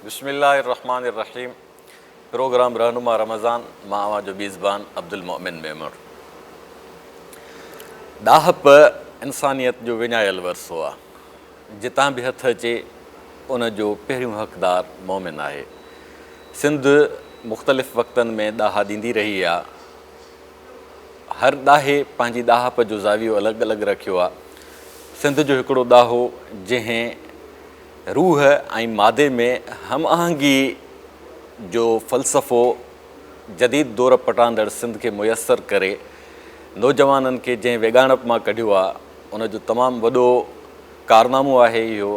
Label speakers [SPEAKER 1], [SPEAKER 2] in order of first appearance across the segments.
[SPEAKER 1] بسم الله الرحمٰن الرحيم پروگرام رهنما رمضان مان اوهان جو ميزبان عبدالمؤمن ميمڻ ڏاهپ انسانيت جو وڃايل ورثو آهي جتان به هٿ اچي ان جو پهريون حقدار مؤمن آهي سنڌ مختلف وقتن ۾ ڏاها ڏيندي رهي آهي هر ڏاهي پنهنجي ڏاهپ جو زاويو الڳ الڳ رکيو آ. سنڌ جو هڪڙو ڏاهو جنهن روح ۽ مادي ۾ هم آهنگي جو فلسفو جديد دور پٽاندڙ سنڌ کي ميسر ڪري نوجوانن کي جنهن ويڳاڻپ مان ڪڍيو آ ان جو تمام وڏو ڪارنامو آهي اهو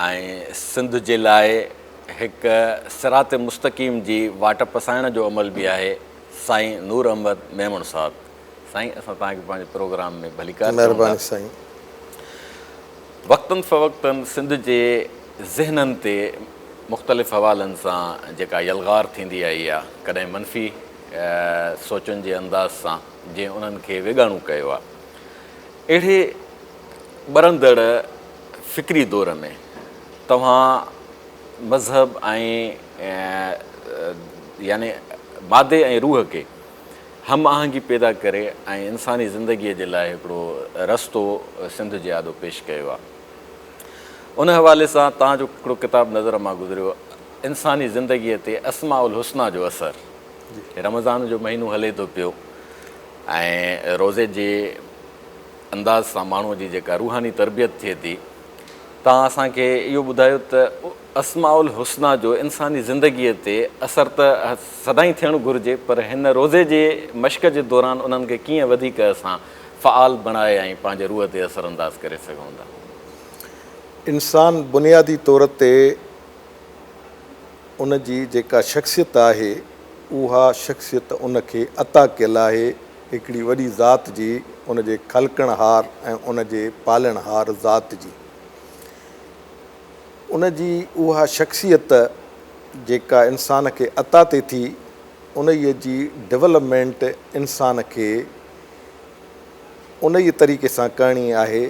[SPEAKER 1] ۽ سنڌ جي لاء هڪ صراط مستقيم جي واٽ پسائڻ جو عمل به آهي. سائين نور احمد ميمڻ صاحب سائين اسان توهان کي پنهنجي پروگرام ۾ ڀليڪار چئون ٿا. مهرباني سائين.
[SPEAKER 2] وقتن
[SPEAKER 1] فوقتن سنڌ جي ذهنن تي مختلف حوالن سان جيڪا يلغار ٿيندي آئي آ ڪڏهن منفي سوچن جي انداز سان جنهن انهن کي ويڳاڻو ڪيو آ اهڙي ٻرندڙ فڪري دور ۾ توهان مذهب ۽ يعني مادي ۽ روح کي هم آهنگي پيدا ڪري ۽ انساني زندگيء جي لاء هڪڙو رستو سنڌ جي آڏو پيش ڪيو آهي. ان حوالي سان توهان جو هڪڙو ڪتاب نظر مان گذريو انساني زندگيء تي اسماء الحسنيٰ جو اثر. رمضان جو مهينو هلي ٿو پيو ۽ روزي جي. انداز سان ماڻهوء جي جيڪا روحاني تربيت ٿئي ٿي، تان اسان کي اهو ٻڌايو ته اسماء الحسنيٰ جو انساني زندگيء تي اثر ته سدائين ٿيڻ گهرجي پر هن روزي جي مشق جي دوران انهن کي ڪيئن وڌيڪ اسان فعال بڻائي ۽ پنهنجي روح تي اثر انداز ڪري سگهون ٿا.
[SPEAKER 2] انسان بنيادي طور تي ان جي جيڪا شخصيت آهي، اها شخصيت ان کي عطا ڪيل آهي، هڪڙي وڏي ذات جي، ان جي خلقڻهار ۽ ان جي پالڻهار ذات جي. ان جي اها شخصيت جيڪا انسان کي عطا ٿئي ٿي، انهيء جي ڊولپمينٽ انسان کي انهيء طريقي سان ڪرڻي آهي،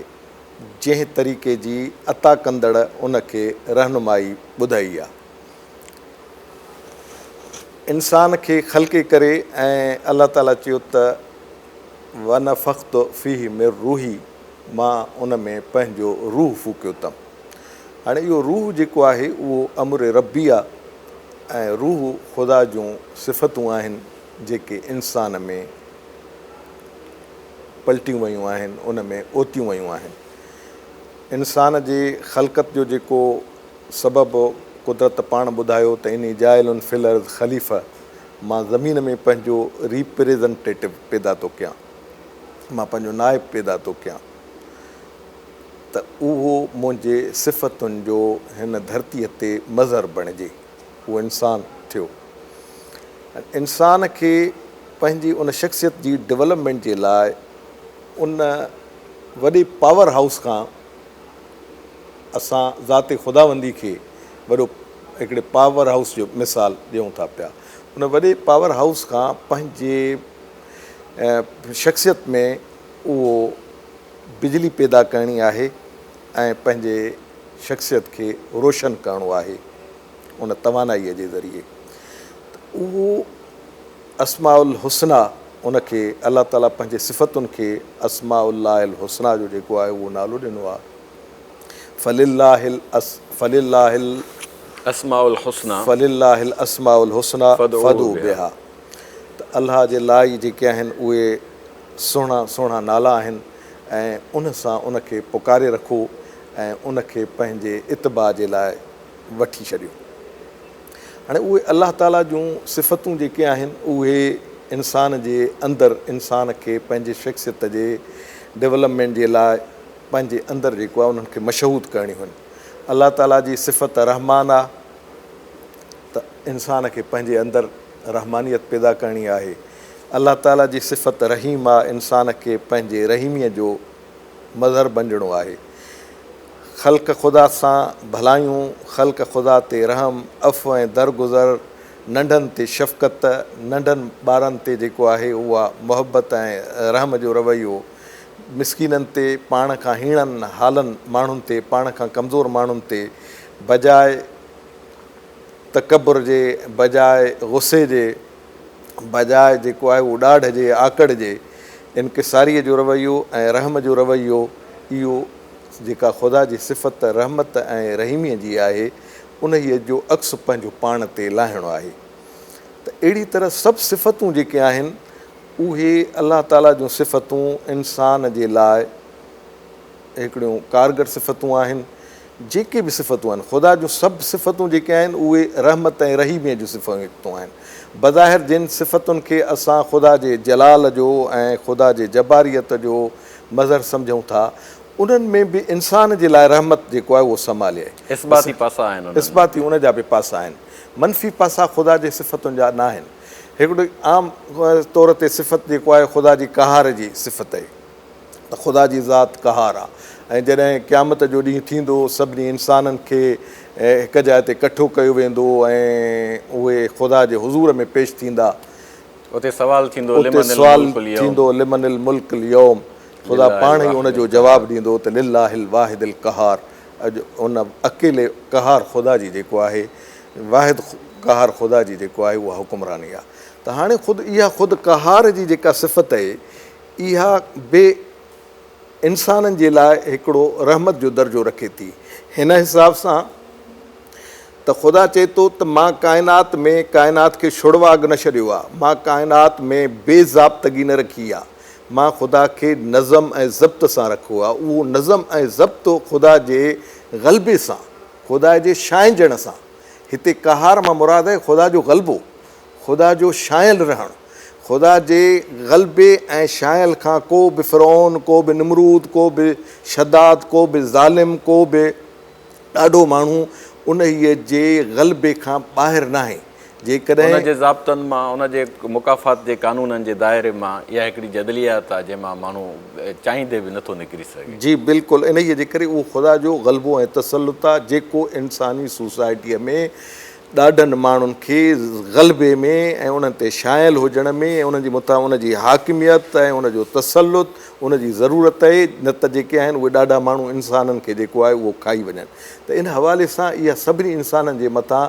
[SPEAKER 2] جنهن طريقي جي عطا ڪندڙ ان کي رهنمائي ٻڌائي آهي. انسان کي خلقي ڪري ۽ الله تعالي چيو ته ونفخت فيه من روحي مان ان ۾ پنهنجو روح ڦوڪيو تم هاڻي اهو روح جيڪو آهي اهو امر ربي آ ۽ روح خدا جون صفتون آهن جيڪي انسان ۾ پلٽيون ويون آهن ان ۾ اوتيون ويون آهن انسان جي خلقت جو جيڪو سبب قدرت پاڻ ٻڌايو ته اني جاعل في الارض خليفه مان زمين ۾ پنهنجو ريپريزنٽيٽو پيدا ٿو ڪيان مان پنهنجو نائب پيدا ٿو ڪيان ته اهو منهنجي صفتن جو هن ڌرتي تي مظهر بڻجي اهو انسان ٿيو ۽ انسان کي پنهنجي ان شخصيت جي ڊولپمينٽ جي لاء ان وڏي پاور هائوس کان اسان ذات خداوندي کي وڏو هڪڙي پاور هائوس جو مثال ڏيون ٿا پيا. ان وڏي پاور هائوس کان پنهنجي شخصيت ۾ اهو بجلي پيدا ڪرڻي آهي ۽ پنهنجي شخصيت کي روشن ڪرڻو آهي ان توانائيء جي ذريعي ته اهو اسماء الحسنيٰ ان کي الله تعالي پنهنجي صفتن کي اسماء الله الحسنيٰ جو جيڪو آهي اهو نالو ڏنو آهي فلله فلله الاسماء الحسنيٰ فلله الاسماء الحسنيٰ فادعوه بها ته الله جي لاء ئي جيڪي آهن اهي سهڻا سهڻا نالا آهن ۽ ان سان ان کي پڪاري رکو ۽ ان کي پنهنجي اتباع جي لاء وٺي ڇڏيو. هاڻي اهي الله تعاليٰ جون صفتون جيڪي آهن اهي انسان جي اندر انسان کي پنهنجي شخصيت جي ڊولپمينٽ جي لاء پنهنجي اندر جيڪو آهي انهن کي مشهود ڪرڻيون آهن الله تعاليٰ جي صفت الرحمان آهي ته انسان کي پنهنجي اندر رحمانيت پيدا ڪرڻي آهي الله تعاليٰ جي صفت الرحيم آهي انسان کي پنهنجي رحيميء جو مظهر بنجڻو آهي خلق خدا سان ڀلايون، خلق خدا تي رحم، عفو ۽ درگذر، ننڍن تي شفقت، ننڍن ٻارن تي جيڪو آهي اها محبت ۽ رحم جو رويو، مسڪينن تي، پاڻ کان هيڻن هالن ماڻهن تي، پاڻ کان ڪمزور ماڻهن تي، بجاء تڪبر جي، بجاء غصي جي، بجاء جيڪو آهي اهو ڏاڍ جي آڪڙ جي انڪساريء جو رويو ۽ رحم جو رويو اهو جيڪا خدا جي صفت رحمت ۽ رحيميء جي آهي انهيء جو عڪس پنهنجو پاڻ تي لاهڻو آهي ته اهڙي طرح سڀ صفتون جيڪي آهن اهي الله تعاليٰ جون صفتون انسان جي لاء هڪڙيون ڪارگر صفتون آهن جيڪي به صفتون آهن، خدا جون سڀ صفتون جيڪي آهن اهي رحمت ۽ رحيميء جون صفتون آهن. بظاهر جن صفتن کي اسان خدا جي جلال جو ۽ خدا جي جباريت جو مظهر سمجهون ٿا، انهن ۾ به انسان جي لاء رحمت جيڪو آهي اهو سمالي آهي. اثباتي پاسا آهن انهن ۾.
[SPEAKER 1] اثباتي ان جا به
[SPEAKER 2] پاسا آهن. منفي پاسا خدا جي صفتن جا ناهن. هڪڙي عام طور تي صفت جيڪو آهي خدا جي قهار جي صفت آهي. ته خدا جي ذات قهار آ ۽ جڏهن قيامت جو ڏينهن ٿيندو سڀني انسانن کي هڪ جاء تي ڪٺو ڪيو ويندو ۽ اهي خدا جي حضور ۾ پيش ٿيندا. اتي سوال
[SPEAKER 1] ٿيندو لمن الملڪ اليوم. اتي سوال
[SPEAKER 2] ٿيندو لمن الملڪ اليوم. خدا پاڻ ئي ان جو جواب ڏيندو ته لله الواحد القهار اڄ ان اڪيلي قهار خدا جي جيڪو آهي واحد قهار خدا جي جيڪو آهي اها حڪمراني آ ته هاڻي خود اها خود قهار جي جيڪا صفت اهي اها به انسانن جي لاء هڪڙو رحمت جو درجو رکي ٿي، هن حساب سان ته خدا چئي ٿو ته مان ڪائنات ۾ ڪائنات کي شڙواڳ نه ڇڏيو آ، مان ڪائنات ۾ بي ضابطگي نه رکي آ، مان خدا کي نظم ۽ ضبط سان رکو آ، اهو نظم ۽ ضبط خدا جي غلبي سان، خدا جي شاهنجڻ سان، هتي قهار مان مراد آهي خدا جو غلبو. خدا جو شايل رهڻ، خدا جي غلبي ۽ شايل کان ڪو به فرعون، ڪو به نمرود، ڪو به شداد، ڪو به ظالم، ڪو به ڏاڍو ماڻهو انهيء جي غلبي کان ٻاهر ناهي، جيڪڏهن. ان جي ضابطن
[SPEAKER 1] مان، ان جي مڪافات جي قانونن جي دائري مان، اها هڪڙي جدليات آهي، جنهن مان ماڻهو چاهيندي به نٿو نڪري سگهي. جي بلڪل انهيء
[SPEAKER 2] جي ڪري اهو خدا جو غلبو ۽ تسلط آهي، جيڪو انساني سوسائٽيء ۾ ڏاڍن ماڻهن کي غلبي ۾ ۽ انهن تي شايل هجڻ ۾ ۽ انهن جي مٿان ان جي حاڪميت ۽ ان جو تسلط ان جي ضرورت اهي نه ته جيڪي آهن اهي ڏاڍا ماڻهو انسانن کي جيڪو آهي اهو کائي وڃن ته ان حوالي سان اها سڀني انسانن جي مٿان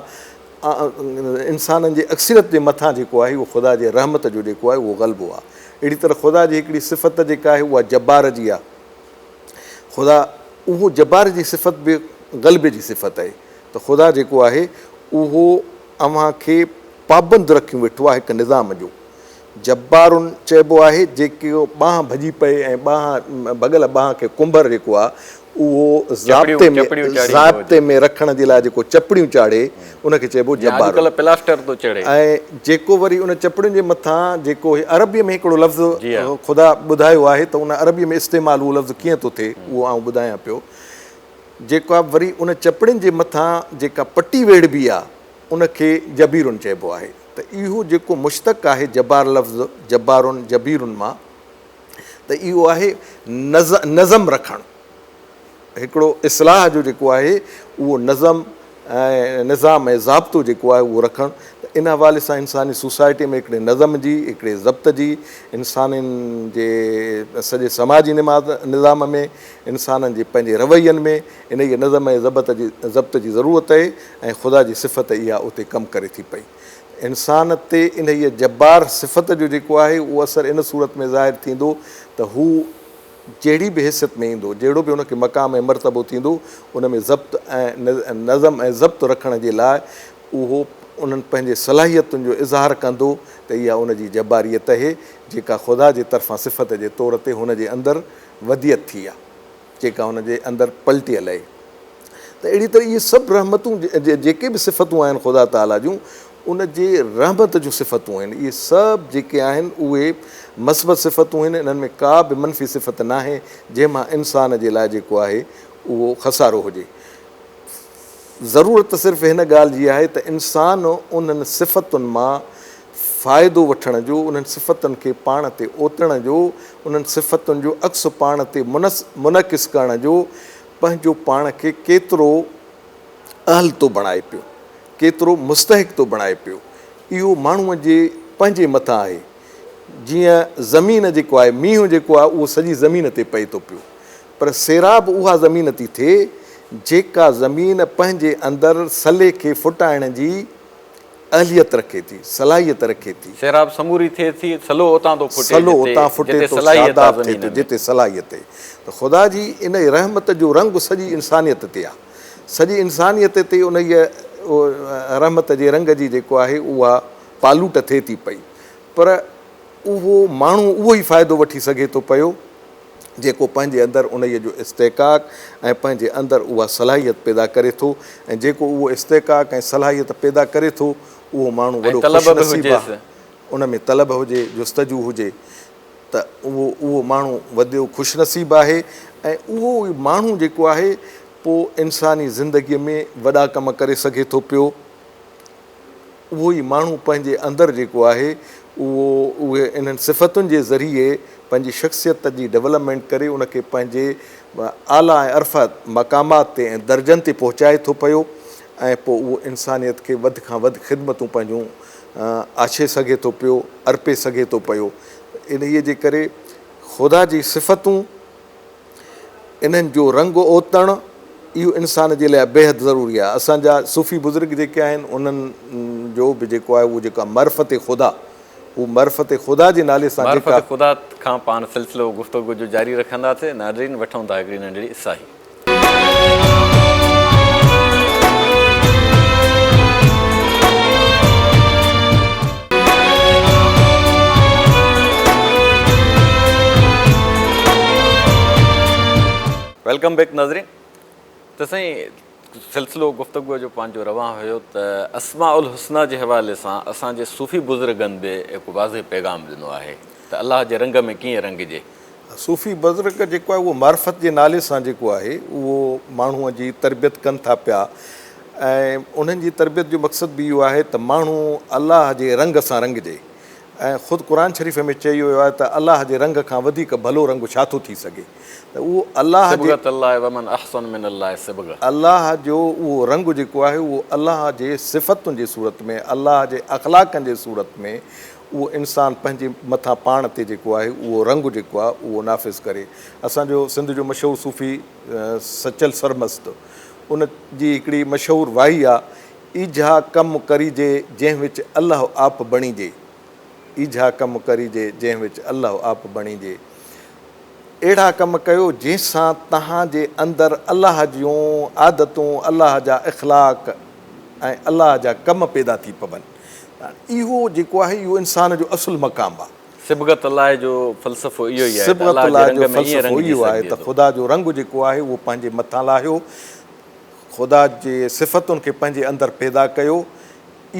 [SPEAKER 2] انسانن جي اڪثريت جي مٿان جيڪو آهي اهو خدا جي رحمت جو جيڪو آهي اهو غلبو آهي اهڙي طرح خدا جي هڪڙي صفت جيڪا آهي اها جبار جي آهي خدا اهو جبار جي صفت به غلبي جي صفت اهي ته خدا جيڪو آهي اهو اوهان کي پابند رکيون ويٺو آهي هڪ نظام جو. جبار چئبو آهي جيڪو ٻانهن ڀڄي پئي ۽ ٻانهن ڀڳل ٻانهن کي ڪنڀر جيڪو آهي اهو ضابطي ۾ ضابطي ۾ رکڻ جي لاء جيڪو چپڙيون چاڙهي ان کي چئبو جبار ۽
[SPEAKER 1] جيڪو وري
[SPEAKER 2] ان چپڙين جي مٿان جيڪو هي عربي ۾ هڪڙو لفظ خدا ٻڌايو آهي ته ان عربي ۾ استعمال اهو لفظ ڪيئن ٿو ٿئي اهو آئون ٻڌايان پيو جيڪا وري ان چپڙين جي مٿان جيڪا پٽي ويڙهبي آ ان کي جبيرن چئبو آهي ته اهو جيڪو مشتق آهي جبار لفظ جبارن جبيرن مان ته اهو آهي نظم رکڻ هڪڙو اصلاح جو جيڪو آهي اهو نظم ۽ نظام ۽ ضابطو جيڪو آهي اهو رکڻ ته ان حوالي سان انساني سوسائٽي ۾ هڪڙي نظم جي هڪڙي ضبط جي انسانين جي سڄي سماجي نماز نظام ۾ انسانن جي پنهنجي روين ۾ انهيء نظم ۽ ضبط جي ضبط جي ضرورت اهي ۽ خدا جي صفت اها اتي ڪم ڪري ٿي پئي. انسان تي انهيء جبار صفت جو جيڪو آهي اهو اثر ان صورت ۾ ظاهر ٿيندو ته هو جهڙي به حيثيت ۾ ايندو، جهڙو به هن کي مقام ۽ مرتبو ٿيندو، ان ۾ ضبط ۽ نظم ۽ ضبط رکڻ جي لاء اهو انهن پنهنجي صلاحيتن جو اظهار ڪندو ته اها ان جي جباريت اهي جيڪا خدا جي طرفان صفت جي طور تي هن جي اندر وديعت ٿي يا جيڪا هن جي اندر پلٽي الائي ته اهڙي طرح اهي سڀ رحمتون جيڪي به صفتون آهن خدا تعاليٰ جون ان جي رحمت جون صفتون آهن اهي سڀ جيڪي آهن اهي مثبت صفتون آهن انهن ۾ ڪا به منفي صفت ناهي جنهن مان انسان جي لاء جيڪو آهي اهو خسارو هجي ضرورت صرف هن ڳالهه جي آهي ته انسان انهن صفتن مان فائدو وٺڻ جو، انهن صفتن کي پاڻ تي اوتڻ جو، انهن صفتن جو عڪس پاڻ تي منعڪس ڪرڻ جو، پنهنجو پاڻ کي ڪيترو اهل ٿو بڻائي پيو، ڪيترو مستحق ٿو بڻائي پيو، اهو ماڻهوء جي پنهنجي مٿان آهي. جيئن زمين جيڪو آهي، مينهن جيڪو آهي، اهو سڄي زمين تي پئي ٿو پيو، پر سيراب اها زمين ٿي ٿئي، جيڪا زمين پنهنجي اندر سلي کي ڦٽائڻ جي. اهليت رکي ٿي، صلاحيت رکي ٿي. سيراب سموري ٿئي ٿي،
[SPEAKER 1] سلو اتان ٿو ڦٽي، سلو جتي، اتان ڦٽي جتي ٿو،
[SPEAKER 2] صلاحيت آ شاداب ٿئي زمين
[SPEAKER 1] ٿو، ۾.
[SPEAKER 2] جتي
[SPEAKER 1] صلاحيت
[SPEAKER 2] آهي. ته خدا جي ان رحمت جو رنگ سڄي انسانيت تي آ. سڄي انسانيت تي انهيء رحمت جي رنگ جي جيڪو آهي اها پالوٽ ٿئي ٿي پئي. پر اهو ماڻهو اهو ئي فائدو وٺي سگهي ٿو پيو. جيڪو پنهنجي اندر انهيء جو استحقاق ۽ پنهنجي اندر اها صلاحيت پيدا ڪري ٿو ۽ جيڪو اهو استحقاق ۽ صلاحيت پيدا ڪري ٿو اهو ماڻهو وڏو خوش نصيب آهي ان ۾
[SPEAKER 1] طلب
[SPEAKER 2] هجي جستجو هجي ته اهو اهو ماڻهو وڏو خوش نصيب آهي ۽ اهو ئي ماڻهو جيڪو آهي پوء انساني زندگيء ۾ وڏا ڪم ڪري سگهي ٿو پيو. اهو ئي ماڻهو پنهنجي اندر جيڪو آهي اهو اهي انهن صفتن جي ذريعي پنهنجي شخصيت جي ڊولپمينٽ ڪري ان کي پنهنجي اعليٰ ۽ ارفع مقامات تي ۽ درجن تي پهچائي ٿو پيو ۽ پوء اهو انسانيت کي وڌ کان وڌ خدمتون پنهنجون آڇي سگهي ٿو پيو ارپي سگهي ٿو پيو انهيء جي ڪري خدا جي صفتون انهن جو رنگ اوتڻ اهو انسان جي لاء بيحد ضروري آهي. اسان جا صوفي بزرگ جيڪي آهن انهن جو به جيڪو آهي اهو جيڪو آهي معرفت خدا اهو معرفت خدا جي نالي سان جيڪا. معرفت خدا کان پاڻ
[SPEAKER 1] سلسلو گفتوگو جو جاري رکندا سي ناظرين وٺون ٿا هڪڙي ننڍڙي ساهي. ويلڪم بيڪ ناظرين ته سائين سلسلو گفتگو جو پنهنجو روان هيو ته اسماء الحسنيٰ جي حوالي سان اسان جي صوفي بزرگن به هڪ واضح پيغام ڏنو آهي ته الله جي رنگ ۾ ڪيئن رنگجي صوفي
[SPEAKER 2] بزرگ جيڪو آهي اهو معرفت جي نالي سان جيڪو آهي اهو ماڻهو جي تربيت ڪن ٿا پيا ۽ انهن جي تربيت جو مقصد به اهو آهي ته ماڻهو الله جي رنگ سان رنگجي ۽ خود قرآن شريف ۾ چئي ويو آهي ته الله جي رنگ کان وڌيڪ ڀلو رنگ ڇا ٿو ٿي سگهي ته اهو الله جي صبغة الله ومن احسن من الله صبغة. الله جو اهو رنگ جيڪو آهي اهو الله جي صفتن جي صورت ۾ الله جي اخلاقن جي صورت ۾ اهو انسان پنهنجي مٿان پاڻ تي جيڪو آهي اهو رنگ جيڪو آهي اهو نافذ ڪري. اسان جو سنڌ جو مشهور صوفي سچل سرمست ان جي هڪڙي مشهور واهي آ، ايجها ڪم ڪريجي جنهن وچ الله آپ بڻيجي، ايجها ڪم ڪريجي جنهن وچ الله آپ بڻيجي. اهڙا ڪم ڪيو جنهن سان توهان جي اندر الله جون عادتون، الله جا اخلاق ۽ الله جا ڪم پيدا ٿي پون. اهو جيڪو آهي اهو انسان جو اصل مقام آهي. صبغت الله جو
[SPEAKER 1] فلسفو اهو ئي آهي ته الله جي رنگ
[SPEAKER 2] ۾ ائين رنگ جي سگهجي ٿو. خدا جو رنگ جيڪو آهي اهو پنهنجي مٿان لاهيو، خدا جي صفتن کي پنهنجي اندر پيدا ڪيو،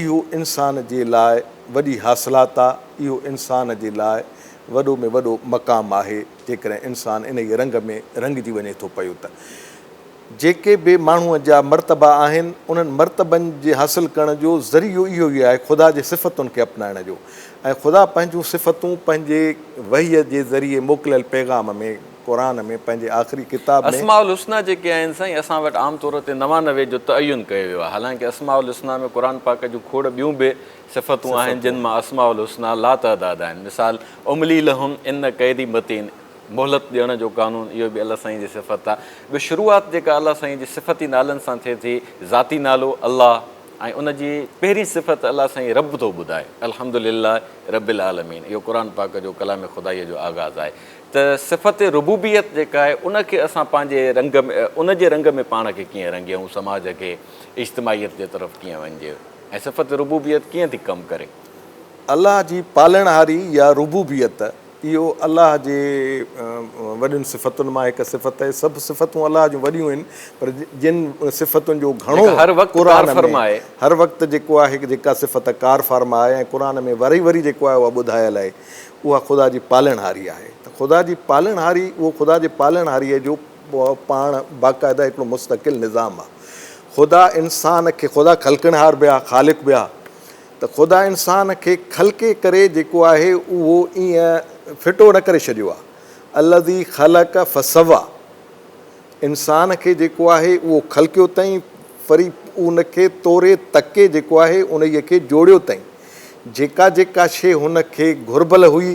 [SPEAKER 2] اهو انسان جي لاء وڏي حاصلات آ، اهو انسان جي لاء وڏو ۾ وڏو مقام آهي، جيڪڏهن انسان انهيء رنگ ۾ رنگجي وڃي ٿو پيو ته. جيڪي به ماڻهوء جا مرتبا آهن، انهن مرتبن جي حاصل ڪرڻ جو ذريعو اهو ئي آهي خدا جي صفتن کي اپنائڻ جو ۽ خدا پنهنجون صفتون پنهنجي وحيء جي ذريعي موڪليل پيغام ۾ قرآن ۾ پنهنجي آخري ڪتاب ۾. اسماء الحسنيٰ جيڪي آهن
[SPEAKER 1] سائين اسان وٽ عام طور تي نوانوي جو تعين ڪيو ويو آهي حالانڪه اسماء الحسنيٰ ۾ قرآن پاڪ جون کوڙ ٻيون به صفتون آهن جن مان اسماء الحسنيٰ لاتعداد آهن مثال املي لهم ان ڪيدي متين، مهلت ڏيڻ جو قانون اهو به الله سائين جي صفت آ ٻيو شروعات جيڪا الله سائين جي صفتي نالن سان ٿئي ٿي ذاتي نالو الله ۽ ان جي پهرين صفت الله سائين رب ٿو ٻڌائي الحمد لله رب العالمين اهو قرآن پاڪ جو ڪلام خدائيء جو آغاز آهي ته صفت ربوبيت جيڪا آهي ان کي اسان پنهنجي رنگ ان جي رنگ ۾ پاڻ کي ڪيئن رنگيون سماج کي اجتماعيت جي طرف ڪيئن وڃجي ۽ صفت ربوبيت ڪيئن ٿي ڪم ڪري. الله جي
[SPEAKER 2] پالڻهاري يا ربوبيت اهو الله جي وڏين صفتن مان هڪ صفت آهي. سڀ صفتون الله جون وڏيون آهن پر جن صفتن جو گهڻو قرآن
[SPEAKER 1] ۾ هر
[SPEAKER 2] وقت جيڪو آهي جيڪا صفت ڪار فارما آهي ۽ قرآن ۾ وري وري جيڪو آهي اها ٻڌايل آهي اها خدا جي پالڻهاري آهي ته خدا جي پالڻهاري اهو خدا جي پالڻهاري جو پاڻ باقاعده هڪڙو مستقل نظام آهي خدا انسان کي خدا خلقڻهار به آهي خالق به آهي. ته خدا انسان کي خلقي ڪري جيڪو آهي اهو ائين ڦٽو نه ڪري ڇڏيو آهي الذي خلق فسوّا انسان کي جيڪو آهي اهو خلقيو تئين وري ان کي توري تڪي جيڪو آهي انهيء کي جوڙيو تئين جيڪا جيڪا شيء هن کي گهربل هئي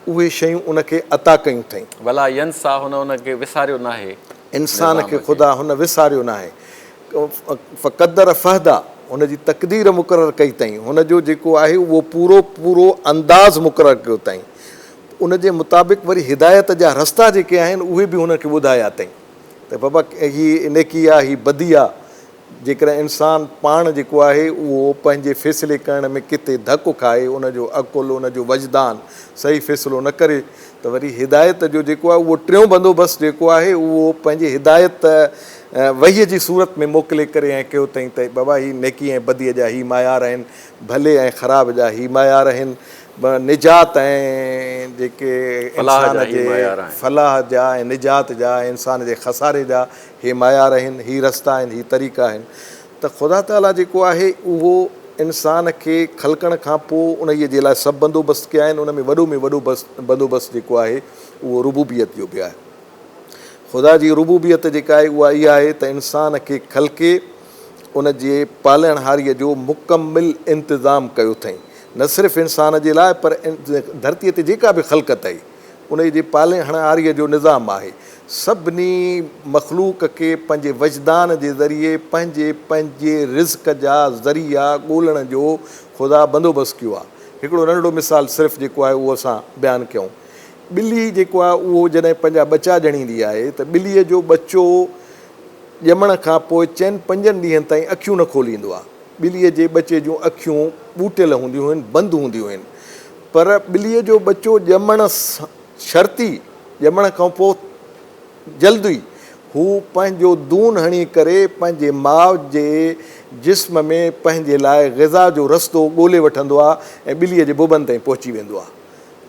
[SPEAKER 2] اهي شيون ان کي عطا ڪيون ٿئين. ولا ينسيٰ هن
[SPEAKER 1] ان کي وساريو ناهي. انسان
[SPEAKER 2] کي خدا هن وساريو ناهي.
[SPEAKER 1] فقدر
[SPEAKER 2] فهدا، هن جي تقدير مقرر ڪئي تئين، هن جو جيڪو آهي اهو پورو پورو انداز مقرر ڪيو تئين، ان جي مطابق وري هدايت جا رستا جيڪي آهن اهي به هن کي ٻڌايا تئين ته بابا هي نيڪي آ هي بدي آ. جيڪڏهن انسان پاڻ جيڪو آهي اهو پنهنجي فيصلي ڪرڻ ۾ ڪٿي ڌڪ کائي، ان جو عقل، ان جو وجدان صحيح فيصلو نه ڪري ته وري هدايت جو جيڪو آهي اهو ٽيون بندوبست جيڪو آهي اهو پنهنجي هدايت وحي جي صورت ۾ موڪلي ڪري ائين ڪيو تئين ته بابا هي نيڪي ۽ بدي جا هي معيار آهن، ڀلي ۽ خراب جا هي معيار آهن، نجات ۽ جيڪي انسان جي فلاح جا ۽ نجات جا ۽ انسان جي خساري جا هي معيار آهن، هي رستا آهن، هي طريقا آهن ته خدا تعاليٰ جيڪو آهي اهو انسان کي خلقڻ کان پوء انهيء جي لاء سڀ بندوبست ڪيا آهن، ان ۾ وڏو ۾ وڏو بندوبست جيڪو آهي اهو ربوبيت جو به آهي. خدا جي ربوبيت جيڪا آهي اها اها آهي ته انسان کي خلقي ان جي پالڻهاريء جو مڪمل انتظام ڪيو اٿئين، نه صرف انسان جي لاء پر ڌرتيء تي جيڪا به خلقت آهي، انهيء جي پالڻهاريء جو نظام آهي. سڀني مخلوق کي پنهنجي وجدان جي ذريعي پنهنجي پنهنجي رزق جا ذريعا ڳولڻ جو خدا بندوبست ڪيو آهي. هڪڙو ننڍڙو مثال صرف جيڪو آهي اهو اسان بيان ڪيون. ٻلي جيڪو آهي اهو جڏهن پنهنجا ٻچا ڄڻيندي آهي ته ٻليء جو ٻچو ڄمڻ کان پوء چئن پنجن ڏينهن تائين اکيون نه کوليندو آهي. ٻليء جي ٻچي جون اکيون ٻوٽيل هونديون هن، بند هونديون هن. پر ٻليء جو ٻچو ڄمڻ شرطي ڄمڻ کان پوء جلد ئي هو پنهنجو دون هڻي ڪري پنهنجي ماء جي جسم ۾ پنهنجي لاء غذا جو رستو ڳولي وٺندو آهي ۽ ٻليء جي ببن تائين پهچي ويندو آهي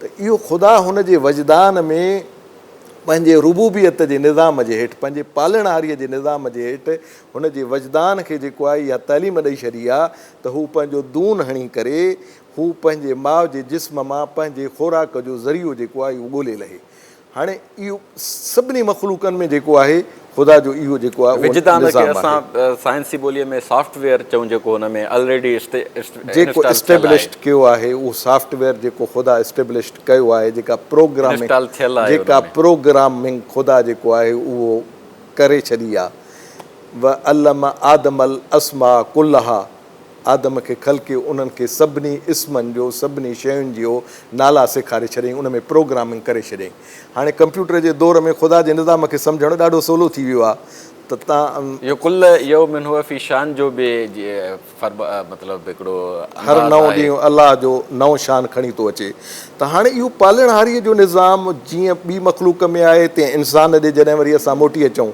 [SPEAKER 2] ته اهو خدا هن جي وجدان ۾ پنهنجي ربوبيت جي نظام جي هيٺ پنهنجي پالڻهاريء جي نظام جي هيٺ هن جي وجدان کي جيڪو آهي اها تعليم ڏئي ڇڏي آهي ته هو پنهنجو دون هڻي ڪري هو پنهنجي ماء جي جسم مان پنهنجي خوراڪ جو ذريعو جيڪو آهي اهو ڳولي لهي. هاڻي اهو سڀني مخلوقن ۾ جيڪو آهي خدا جو اهو جيڪو آهي اهو نظام آهي. وجدان کي اسان
[SPEAKER 1] سائنسي ٻوليء ۾ سافٽ ويئر چئون جيڪو هن ۾ الريڊي انسٽال ٿيل آهي. جيڪو
[SPEAKER 2] اسٽيبلشڊ ڪيو آهي اهو سافٽ ويئر جيڪو خدا اسٽيبلشڊ ڪيو آهي جيڪا پروگرامنگ انسٽال ٿيل آهي ان ۾. جيڪا پروگرامنگ خدا جيڪو آهي اهو ڪري ڇڏي آهي. وعلم آدم الاسماء ڪلها. آدم کي خلقي انهن کي سڀني اسمن جو سڀني شين جيو نالا سيکاري ڇڏيائين ان ۾ پروگرامنگ ڪري ڇڏيائين هاڻي ڪمپيوٽر جي دور ۾ خدا جي نظام کي سمجهڻ ڏاڍو سولو ٿي ويو آهي ته تان اهو ڪل يوم
[SPEAKER 1] هو في شان جو به مطلب هڪڙو هر نئون ڏينهن
[SPEAKER 2] الله جو نئون شان کڻي ٿو اچي ته هاڻي اهو پالڻهاري جو نظام جيئن ٻي مخلوق ۾ آهي تيئن انسان ڏي جڏهن وري اسان موٽي اچون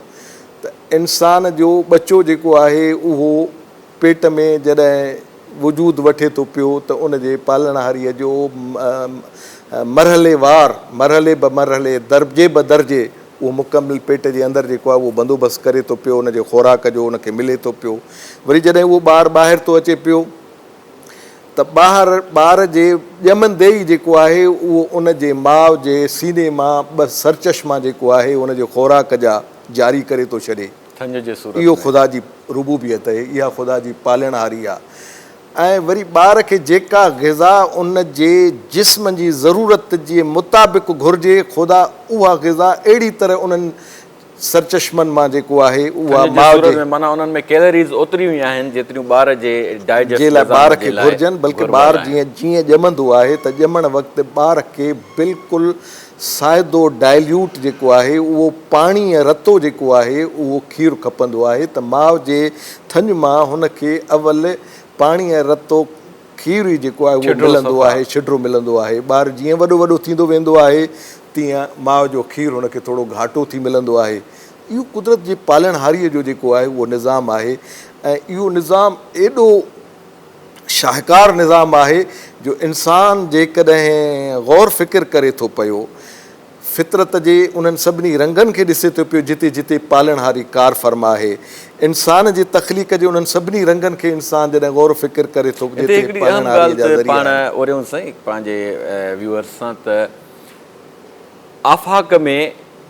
[SPEAKER 2] ته انسان جو ٻچو جيڪو آهي اهو پيٽ ۾ جڏهن وجود وٺي ٿو پيو ته ان جي پالڻهاريء جو مرحلي وار، مرحلي به مرحلي، درجي به درجي اهو مڪمل پيٽ جي اندر جيڪو آهي اهو بندوبست ڪري ٿو پيو، ان جي خوراڪ جو ان کي ملي ٿو پيو. وري جڏهن اهو ٻار ٻاهر ٿو اچي پيو ته ٻاهر ٻار جي ڄمندي ئي جيڪو آهي اهو ان جي ماء جي سيني مان ٻه سرچشما جيڪو آهي ان جي خوراڪ جا جاري ڪري ٿو ڇڏي. ٿڃ جي صورت ۾. اهو خدا جي ربوبيت اهي، اها خدا جي پالڻهاري آ ۽ وري ٻار کي جيڪا غذا ان جي جسم جي ضرورت جي مطابق گهرجي خدا اها غذا اهڙي طرح انهن سرچشمن مان جيڪو آهي اها ٿڃ جي ماء صورت جي ۾ معنيٰ انهن ۾ ڪيلريز
[SPEAKER 1] اوتريون ئي آهن جيتريون ٻار جي جي ڊائجسٽ لاء نظام ٻار کي جي لاء
[SPEAKER 2] گهرجن بلڪه ضرور ٻار آهن. جيئن جيئن ڄمندو آهي ته ڄمڻ وقت ٻار کي بلڪل سائدو، Dilute، جيڪو آهي اهو پاڻي ۽ رتو جيڪو آهي اهو کير کپندو آهي ته ماء جي ٿڃ مان هن کي اول پاڻي ۽ رتو کير ئي جيڪو آهي اهو ملندو آهي شڊرو ملندو آهي ٻار جيئن وڏو وڏو ٿيندو ويندو آهي تيئن ماء جو کير هن کي ٿورو گهاٽو ٿي ملندو آهي اهو قدرت جي پالڻهاري جو جيڪو آهي اهو نظام آهي ۽ اهو نظام ايڏو شاهڪار نظام آهي جو انسان جيڪڏهن غور فڪر ڪري ٿو پيو، فطرت جي انهن سڀني رنگن کي ڏسي ٿو پيو جتي جتي پالڻهاري ڪار فرما آهي. انسان جي تخليق جي انهن سڀني رنگن کي انسان جڏهن غور و فڪر ڪري ٿو پيو ته پالڻهاريء جا ذريعا
[SPEAKER 1] آهن. وريون سائين پنهنجي ويورز سان ته آفاق ۾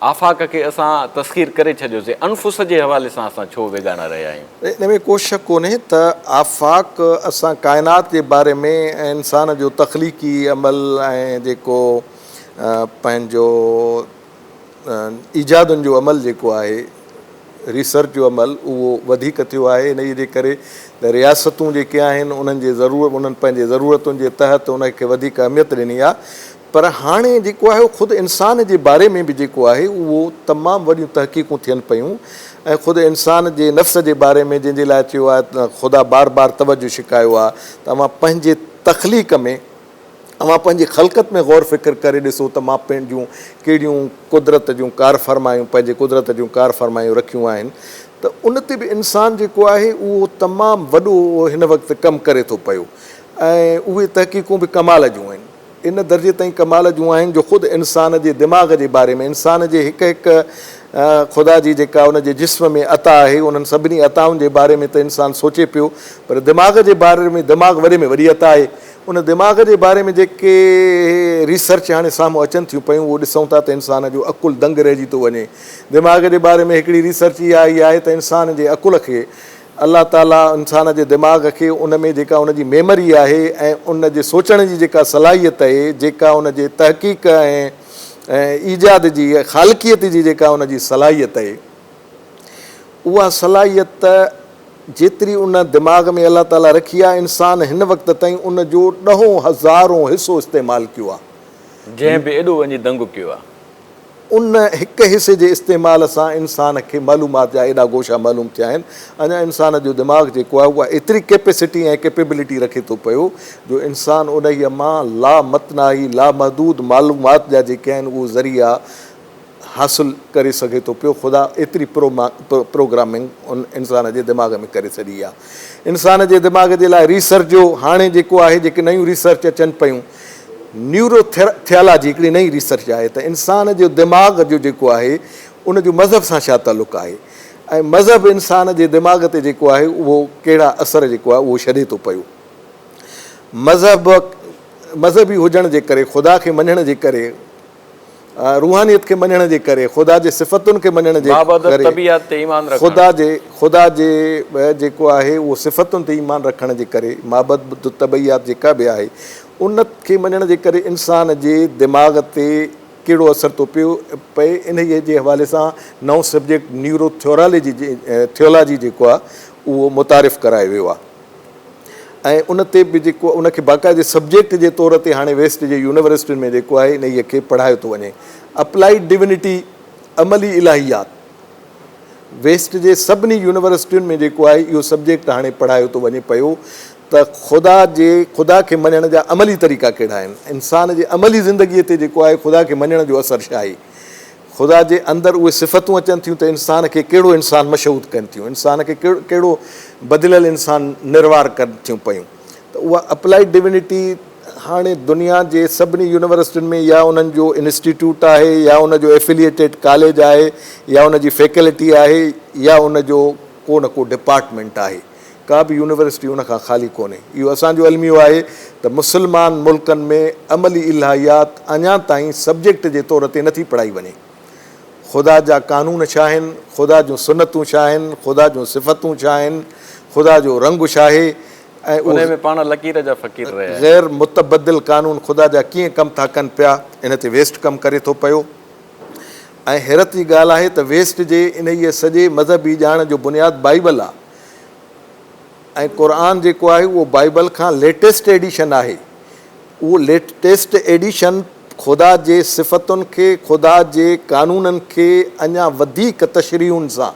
[SPEAKER 1] آفاق کي اسان تسخير ڪري ڇڏيوسين، انفس جي حوالي سان اسان ڇو ويڳاڻا رهيا آهيون؟ ان ۾ ڪو شڪ ڪونهي
[SPEAKER 2] ته آفاق اسان ڪائنات جي باري ۾ ۽ انسان جو تخليقي عمل ۽ جيڪو پنهنجو ايجادن جو عمل جيڪو آهي ريسرچ جو عمل اهو وڌيڪ ٿيو آهي انهيء جي ڪري ته رياستون جيڪي آهن انهن جي انهن پنهنجي ضرورتن جي تحت ان کي وڌيڪ اهميت ڏني آهي پر هاڻي جيڪو آهي اهو خود انسان جي باري ۾ به جيڪو آهي اهو تمام وڏيون تحقيقون ٿين پيون ۽ خود انسان جي نفس جي باري ۾ جنهن جي لاء چيو آهي ته خدا بار بار توجه ڇڪايو آهي ته اوهان پنهنجي تخليق ۾ اوهان پنهنجي خلقت ۾ غور فڪر ڪري ڏسو ته مان پنهنجون ڪهڙيون قدرت جون ڪارفرمايون پنهنجي قدرت جون ڪارفرمايون رکيون آهن ته ان تي به انسان جيڪو آهي اهو تمام وڏو هن وقت ڪم ڪري ٿو پيو ۽ اهي تحقيقون به ڪمال جون آهن. ان درجي تائين ڪمال جون آهن جو خود انسان جي دماغ جي باري ۾ انسان جي هڪ هڪ خدا جي جيڪا ان جي جسم ۾ عطا آهي انهن سڀني عطائن جي باري ۾ ته انسان سوچي پيو پر دماغ جي باري ۾ دماغ وڏي ۾ وڏي عطا آهي ان دماغ جي باري ۾ جيڪي ريسرچ هاڻي سامهون اچن ٿيون پيون اهو ڏسون ٿا ته انسان جو عقل دنگ رهجي ٿو وڃي دماغ جي باري ۾ هڪڙي ريسرچ اها آئي آهي ته انسان جي عقل کي الله تعاليٰ انسان جي دماغ کي ان ۾ جيڪا ان جي ميمري آهي ۽ ان جي سوچڻ جي جيڪا صلاحيت اهي جيڪا ان جي تحقيق ۽ ايجاد جي خالقيت جي جيڪا ان جي صلاحيت اهي اها صلاحيت جيتري ان دماغ ۾ الله تعاليٰ رکي آهي انسان هن وقت تائين ان جو ڏهون هزارون حصو استعمال ڪيو آهي. جنهن به ايڏو وڃي
[SPEAKER 1] دنگ ڪيو آهي. ان
[SPEAKER 2] هڪ حصي جي استعمال سان انسان کي معلومات جا ايڏا گوشا معلوم ٿيا آهن. اڃا انسان جو دماغ جيڪو آهي اها ايتري ڪيپيسٽي ۽ ڪيپيبلٽي رکي ٿو پيو جو انسان انهيء مان لامتناهي لامحدود معلومات جا جيڪي آهن اهي ذريعا حاصل ڪري سگهي ٿو پيو. خدا ايتري پروگرامنگ ان انسان جي دماغ ۾ ڪري ڇڏي آهي. انسان جي دماغ جي لاء ريسرچ جو هاڻي جيڪو آهي جيڪي نيون ريسرچ اچن پيون نيورو ٿيالاجي هڪڙي نئين ريسرچ آهي ته انسان جو دماغ جو جيڪو آهي ان جو مذهب سان ڇا تعلق آهي ۽ مذهب انسان جي دماغ تي جيڪو آهي اهو ڪهڙا اثر جيڪو آهي اهو ڇڏي ٿو پيو مذهب مذهبي هجڻ جي ڪري خدا کي مڃڻ جي ڪري روحانيت کي مڃڻ جي ڪري، خدا جي صفتن کي مڃڻ جي ڪري، خدا جي خدا جي جيڪو آهي اهو صفتن تي ايمان رکڻ جي ڪري، مابعد الطبعيات جيڪا به آهي ان کي مڃڻ جي ڪري انسان جي دماغ تي ڪهڙو اثر ٿو پيو پئي انهيء جي حوالي سان نئون سبجيڪٽ نيورو ٿيورالاجي Theology جيڪو آهي اهو متعارف ڪرايو ويو آهي. ۽ ان تي به جيڪو ان کي باقاعدي سبجيڪٽ جي طور تي هاڻي ويسٽ جي يونيورسٽين ۾ جيڪو آهي انهيء کي پڙهايو ٿو وڃي. اپلائيڊ ڊوينٽي، عملي الاهيات، ويسٽ جي سڀني يونيورسٽين ۾ جيڪو آهي اهو سبجيڪٽ هاڻي پڙهايو ٿو وڃي پيو ته خدا جي خدا کي مڃڻ جا عملي طريقا ڪهڙا آهن. انسان جي عملي زندگيء تي جيڪو آهي خدا کي مڃڻ جو اثر ڇا آهي. خدا جي اندر اهي صفتون اچن ٿيون ته انسان کي ڪهڙو انسان مشهود ڪن ٿيون، انسان کي ڪهڙو بدليل انسان نروار ڪن ٿيون پيون ته اها اپلائيڊ ڊوينٽي هاڻي دنيا جي سڀني يونيورسٽين ۾ يا انهن جو انسٽيٽيوٽ آهي يا ان جو ائفليئيٽيڊ ڪاليج آهي يا ان جي فيڪلٽي آهي يا ان جو ڪو نه ڪو ڊپارٽمينٽ آهي. ڪا به يونيورسٽي ان کان خالي ڪونهي. اهو اسان جو الميو آهي ته مسلمان ملڪن ۾ عملي الهيات اڃا تائين سبجيڪٽ جي طور تي نٿي پڙهائي وڃي. خدا جا قانون ڇا آهن، خدا جون سنتون ڇا آهن، خدا جون صفتون ڇا آهن، خدا جو رنگ ڇاهي ۽ اهي
[SPEAKER 1] غير متبدل
[SPEAKER 2] قانون خدا جا ڪيئن ڪم ٿا ڪن پيا، ان تي ويسٽ ڪم ڪري ٿو پيو. ۽ حيرت جي ڳالهه آهي ته ويسٽ جي انهيء سڄي مذهبي ڄاڻ جو بنياد بائيبل آهي ۽ قرآن جيڪو آهي اهو بائيبل کان ليٽيسٽ ايڊيشن آهي. اهو ليٽيسٽ ايڊيشن خدا جي صفتن کي، خدا جي قانونن کي اڃا وڌيڪ تشريحن سان،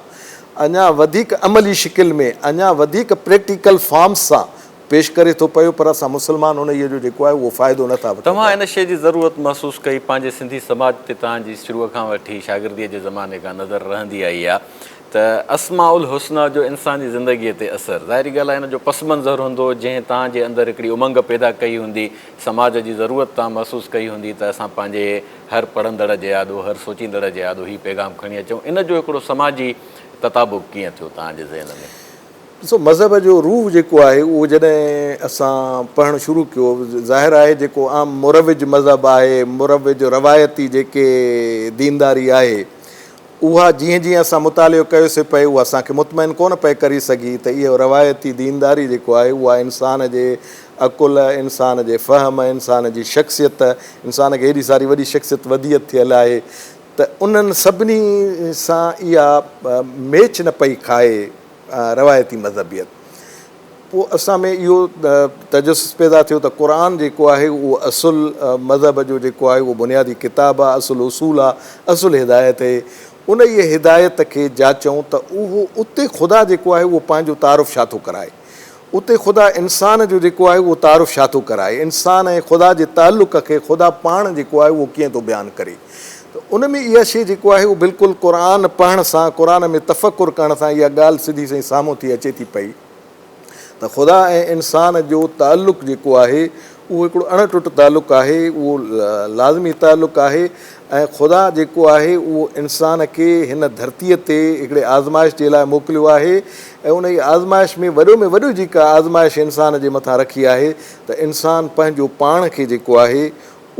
[SPEAKER 2] اڃا وڌيڪ عملي شڪل ۾، اڃا وڌيڪ پريٽيڪل فارمس سان پيش ڪري ٿو پيو پر اسان مسلمان انهيء جو جيڪو آهي اهو فائدو نه ٿا وٺون توهان پيا. ان شيء جي ضرورت
[SPEAKER 1] محسوس ڪئي پنهنجي سنڌي سماج تي توهان جي شروع کان وٺي شاگرديء جي زماني کان نظر رهندي آئي آهي ته اسماء الحسنيٰ جو انساني زندگيء تي اثر ظاهري ڳالهه آهي ان جو پس منظر هوندو جنهن توهان جي اندر هڪڙي امنگ پيدا ڪئي هوندي سماج جي ضرورت توهان محسوس ڪئي هوندي ته اسان پنهنجي هر پڙهندڙ جي آڏو هر سوچيندڙ جي آڏو هي پيغام کڻي اچون ان جو هڪڙو سماجي تطابق ڪيئن ٿيو توهان جي ذهن ۾؟ ڏسو
[SPEAKER 2] مذهب جو روح جيڪو آهي اهو جڏهن اسان پڙهڻ شروع ڪيو ظاهر آهي جيڪو عام مروج مذهب آهي مروج روايتي جيڪي دينداري آهي اها جيئن جيئن اسان مطالعو ڪيوسي پئي اها اسان کي مطمئن ڪونه پئي ڪري سگهي ته اهو روايتي دينداري جيڪو آهي اها انسان جي عقل انسان جي فهم انسان جي شخصيت انسان کي هيڏي ساري وڏي شخصيت وديت ٿيل آهي ته انهن سڀني سان اها ميچ نه پئي کائي روايتي مذهبيت. پوء اسان ۾ اهو تجسس پيدا ٿيو ته قرآن جيڪو آهي اهو اصل مذهب جو جيڪو آهي اهو بنيادي ڪتاب آهي، اصل اصول آهي، اصل هدايت هي. انهيء هدايت کي جاچئون ته اهو اتي خدا جيڪو آهي اهو پنهنجو تعارف ڇا ٿو ڪرائي. اتي خدا انسان جو جيڪو آهي اهو تعارف ڇا ٿو ڪرائي؟ انسان ۽ خدا جي تعلق کي خدا پاڻ جيڪو آهي اهو ڪيئن ٿو بيان ڪري؟ ته ان ۾ اها شيء جيڪو آهي اهو بلڪل قرآن پڙهڻ سان، قرآن ۾ تفڪر ڪرڻ سان اها ڳالهه سڌي سئي سامهون ٿي اچي ٿي پئي ته خدا ۽ انسان جو تعلق جيڪو آهي اهو هڪڙو اڻ ٽٽ تعلق آهي، اهو لازمي تعلق آهي ۽ خدا جيڪو آهي اهو انسان کي هن ڌرتيء تي هڪڙي آزمائش جي لاء موڪليو آهي ۽ انهيء آزمائش ۾ وڏو ۾ وڏو جيڪا آزمائش انسان جي مٿان رکي آهي ته انسان پنهنجو پاڻ کي جيڪو آهي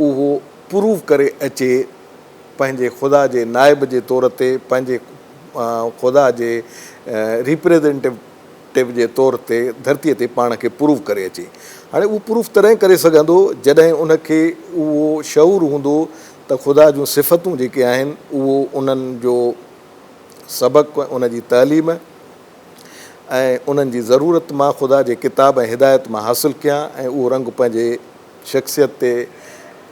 [SPEAKER 2] اهو پروف ڪري اچي پنهنجي خدا جي نائب جي طور تي پنهنجي خدا جي ريپريزنٽيو ٽيپ جي طور تي ڌرتي تي پاڻ کي پروف ڪري اچي. هاڻي اهو پروف تڏهن ڪري سگهندو جڏهن ان کي اهو شعور هوندو ته خدا جون صفتون جيڪي آهن اهو انهن جو سبق ان جي تعليم ۽ انهن جي ضرورت مان خدا جي ڪتاب ۽ هدايت مان حاصل ڪيان ۽ اهو رنگ پنهنجي شخصيت تي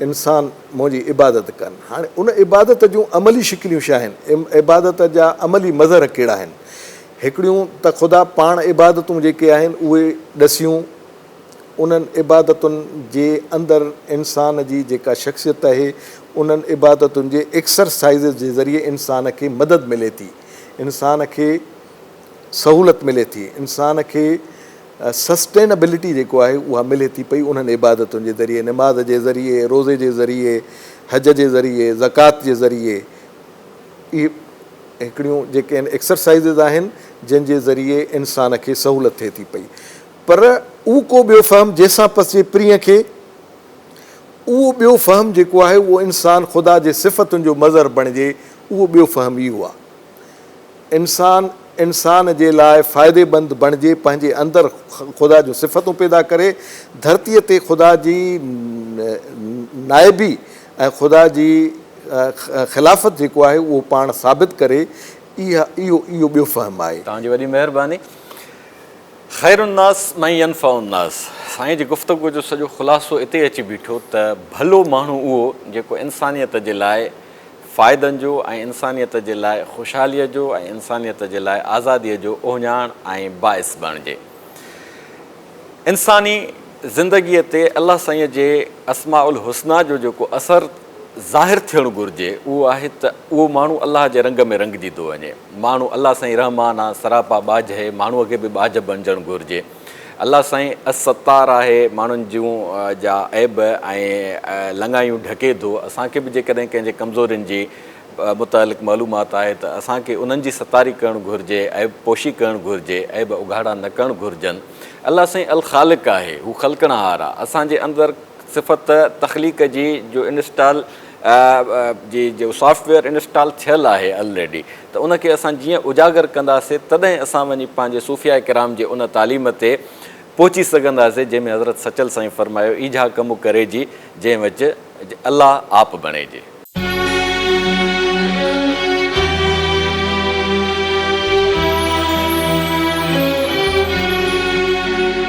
[SPEAKER 2] انسان منهنجي عبادت ڪن. هاڻي ان عبادت جون عملي شڪليون ڇا آهن؟ عبادت جا عملي مظهر ڪهڙا آهن؟ هڪڙيون ته خدا پاڻ عبادتون جيڪي آهن اهي ڏسيون. انهن عبادتن جي اندر انسان جي جيڪا شخصيت آهي انهن عبادتن جي ايڪسرسائيز جي ذريعي انسان کي مدد ملي ٿي. انسان کي سهولت ملي ٿي. انسان کي سسٽينبلٽي جيڪو آهي اها ملي ٿي پئي انهن عبادتن جي ذريعي نماز جي ذريعي روزي جي ذريعي حج جي ذريعي زڪوات جي ذريعي اهي هڪڙيون جيڪي آهن ايڪسرسائيزز آهن جن جي ذريعي انسان کي سهولت ٿئي ٿي پئي پر اهو ڪو ٻيو فهم جنهن سان پسجي پرينء کي اهو ٻيو فهم جيڪو آهي اهو انسان خدا جي صفتن جو مظهر بڻجي اهو ٻيو فهم اهو آهي انسان انسان جي لاء فائديمند بڻجي پنهنجي اندر خدا جون صفتون پيدا ڪري ڌرتي تي خدا جي نائبي ۽ خدا جي خلافت جيڪو آهي اهو پاڻ ثابت ڪري اهو اهو ٻيو فهم آهي. توهان جي وڏي مهرباني.
[SPEAKER 1] خير الناس من ينفع الناس سائين جي گفتگو جو سڄو خلاصو اتي اچي بيٺو ته ڀلو ماڻهو اهو جيڪو انسانيت جي لاء فائدن جو ۽ انسانيت جي لاء خوشحاليء جو ۽ انسانيت جي لاء آزاديء جو اهڃاڻ ۽ باعث بڻجي. انساني زندگيء تي الله سائينء جي اسماء الحسنيٰ جو جيڪو اثر ظاهر ٿيڻ گهرجي اهو آهي ته اهو ماڻهو الله جي رنگ ۾ رنگجي ٿو وڃي. ماڻهو الله سائين رحمان آ، سراپا ٻاجهه، ماڻهوء کي به ٻاجهه بڻجڻ گهرجي. الله سائين الستار آهي، ماڻهن جون جا عيب ۽ لڱايون ڍڪي ٿو، اسان کي به جيڪڏهن ڪنهن جي ڪمزورين جي متعلق معلومات آهي ته اسان کي انهن جي ستاري ڪرڻ گهرجي، عيب پوشي ڪرڻ گهرجي، عيب اگهاڙا نه ڪرڻ گهرجن. الله سائين الخالق آهي، هو خلقڻهار آ، اسان جي اندر صفت تخليق جي جو انسٽال جي جو سافٽ ويئر انسٽال ٿيل آهي الريڊي ته ان کي اسان جيئن اجاگر ڪنداسين تڏهن اسان وڃي پنهنجي صوفياء ڪرام جي ان تعليم تي پهچي سگهنداسين جنهن ۾ حضرت سچل سائين فرمايو ايجها ڪم ڪريجي جنهن وچ الله آپ بڻيجي.